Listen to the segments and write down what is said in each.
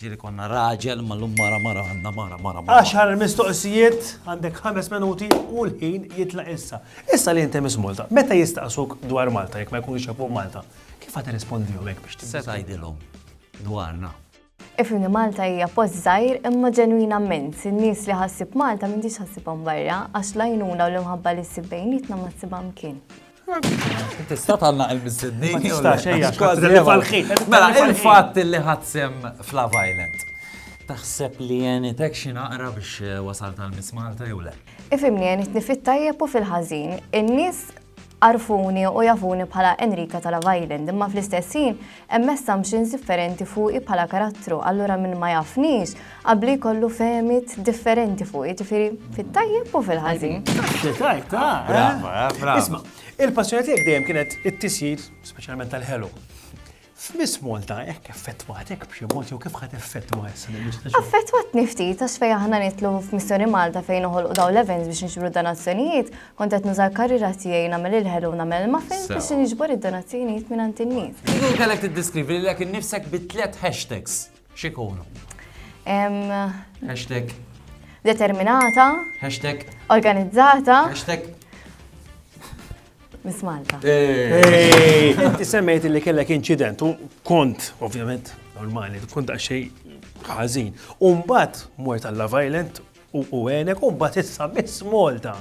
Ġieli konna raġel ma llum mara mara għandna mara mara mara. Għaxar mistoqsijiet, għandek ħames minuti u l-ħin jitlaq issa. Issa li inti Miss Malta, meta jistaqsuk dwar Malta jekk ma jkunux jafuh Malta, kif ħa tirrispondihom hekk biex tibża'? Se tgħidilhom dwarna. Ifhimni Malta hija post żgħir imma ġenwin ammens. In-nies li ħa ssib Malta m'intix ħa ssibhom barra, għax l-għajnuna u l-imħabba li ssib bejnietna ma ssibha mkien. Tista' tagħlaq il-mistednin. Ma tistax ejja. Kważi li falħin. Mela il-fatt li ħadsem f'Love Island. Taħseb li jenitek xi naqra biex eh, wasal tal-Miss Malta jew le? Ifimni jenitni fit-tajjeb u fil-ħażin. In-nies arfuni u jafuni bħala Enrika tal-Love Island, imma fl-istess ħin Hemm assumptions differenti fuqi bħala karattru, allura min ma jafnix qabli jkollu fehmiet differenti fuqi, ġifieri fit-tajjeb u fil-ħażin. Xi tajt, ah, eh? Brava, eh, brava. Isma', il-passjoni tiegħek dejjem kienet it-tisjir, speċjalment tal-ħelu. F'Miss Malta hekk effettwatek b'xi mod jew kif ħad effettwa issa l-istaġun? Affettwatni ftit għax fejn aħna nitlu f'Missjoni Malta fejn noħolqu dawn l-events biex nġbru donazzjonijiet, Kont qed nuża l-karriera tiegħi nagħmel il-ħelu u nagħmel il-muffins biex niġbor id-donazzjonijiet mingħand in-nies. Kieku kellek tiddeskrivi lilek innifsek bi tliet hashtags, x'ikunu? Hashtag. Determinata. Hashtag. Organizzata. Hashtag. Miss Malta. Inti semmejt li kellek inċident u kont, ovvjament, normali, kont għaxej ħażin. Umbat mort għalla violent U u għenek u mbagħad issa Miss Malta.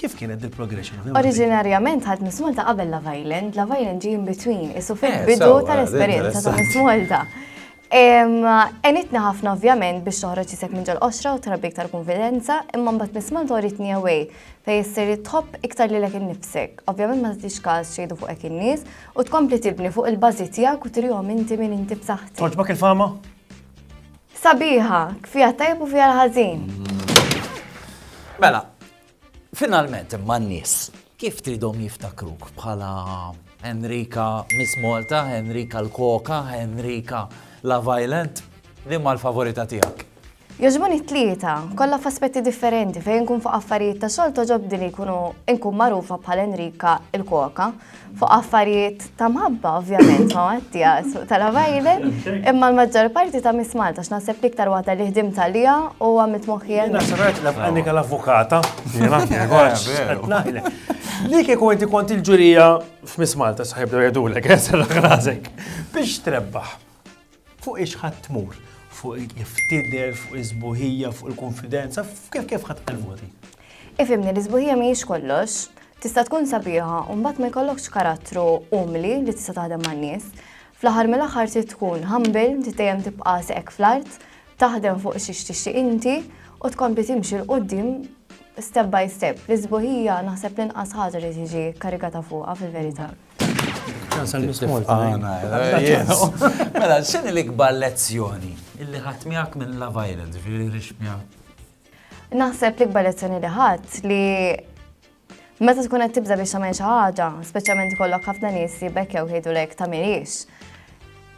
Kif kienet il progression Oriġinarjament ħadd Miss Malta qabel Love Island, Love Island ġie in between, isu eh, fil-bidu eh, tal-esperjenza ta' Miss Malta. Enitna ħafna ovvjament biex toħroġ jisek minn ġol qoxra u trabbi iktar konfidenza, imma mbagħad Miss Malta uritni away fej issir tħobb iktar lilek innifsek. Ovvjament ma tagħtix każ xejdu fuq hekk in-nies u tkompli tibni fuq il-bażi tiegħek u trihom inti minn inti b'saħħti. Toġbok il-fama? Sabiħa, fiha t-tajjeb u fiha l-ħażin. Mela, finalment imma n-nies kif tridhom jiftakruk bħala Henrika Miss Malta, Henrika l-Koka, Henrika la Violent, li ma l-favorita tiegħek? Joġbuni t-tlieta, kollha f'aspetti differenti fejn nkun fuq affarijiet ta' xogħol toġobdi li jkunu nkun magħrufa bħal Henrika l-Koka, fuq affarijiet ta' mħabba, ovvjament, ma' Mattia, suq tal-għabajde, imma l-maġġor parti ta' Miss Malta, x'naħseb iktar waħda li ħdim tal-lija u għamilt moħħi għal. Nasrat la b'għanika l-avukata, jena, Li kieku inti kont il-ġurija f'Miss Malta, saħib dwar jadulek, jessar raħrazek, biex trebbaħ. Fuq ix ħadd tmur? Fuq kif tidher, fuq is-sbuħija, fuq il-kunfidenza, fuq kif ħadd tqal voti? Ifhimni, l-isbuħija mhijiex kollox. Tista' tkun sabiħa u mbagħad ma jkollokx karattru umli li tista' taħdem man-nies. Fl-aħħar mill-aħħar trid tkun humble, trid dejjem tibqa' seqek fl-art, taħdem fuq xiex tixtieq inti u tkompli timxi 'l quddiem step by step. L-isbuħija naħseb l-inqas ħaġa li tiġi kkarigata fuqha fil-verità. Mela, x'inhi l-ikbar lezzjoni illi ħadd miegħek minn la violence, ġifieri rix miegħek? Naħseb l-ikbar lezzjoni li ħadd li meta tkun qed tibda biex tagħmel xi ħaġa, speċjalment ikollok ħafna nies li bekkew jgħidulek ta' mirix.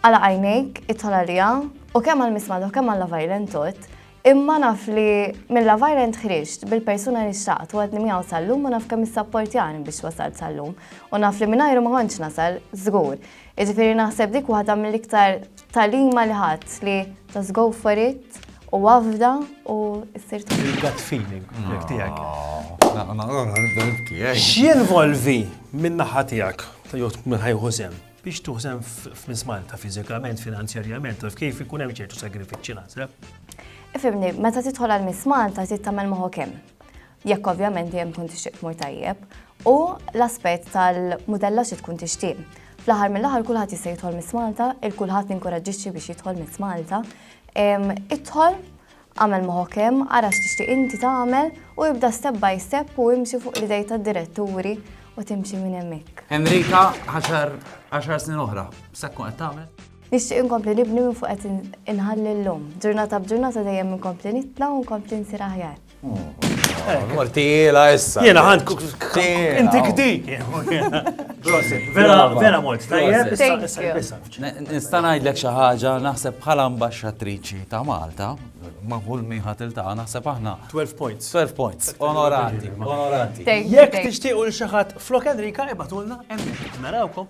Għala għajnejk, it-tolarija, u kemm għal mismadu, kemm għal la violence Imma naf li Milla Virent ħriġt bil-persuna li xtaqt u għadni miegħu sal-lum u naf kemm issapportjani biex wasalt sal-lum u naf li mingħajru ma kontx nasal żgur. Jiġifieri naħseb dik waħda mill-iktar talima li ħadd li just go for it u wafda u issir Il-gut feeling tiegħek. X'jinvolvi minn naħa tiegħek ta' jgħod minn ħajħu sem? Biex tużen f'Miss Malta fiżikament, finanzjarjament, taf kif ikun hemm ċertu sagrifiċċji naħseb. Ifimni, meta tidħol għal Miss Malta trid tagħmel moħok hemm. Jekk ovvjament dejjem tkun tixtieq tmur tajjeb u l-aspett tal-mudella xi tkun tixtieq. Fl-aħħar mill-aħħar kulħadd jista' jidħol Miss Malta, il-kulħadd ninkoraġġixxi biex jidħol Miss Malta. Idħol Agħmel moħħok hemm, ara x'tixtieq inti tagħmel u ibda step by step u imxi fuq l-idej tad-diretturi u timxi minn hemmhekk. Henrika, għaxar, għaxar snin oħra, x'se tkun qed tagħmel? Nixtieq inkompli nibni minn fuq qed inħalli llum. Ġurnata b'ġurnata dejjem inkompli nitla' u nkompli nsir aħjar. Mor tiela issa. Jiena ħadd inti kdik. Prosit, vera mort tajjeb issa issa. Nista' ngħidlek xi ħaġa, naħseb bħala Ambaxxatriċi ta' Malta, ma' kull min ħa tiltaqa' naħseb aħna. 12 points. 12 points. Onorati. Onorati. Jekk tixtiequ lil xi ħadd flok Enrika ibgħatulna hemmhekk. Narawkom.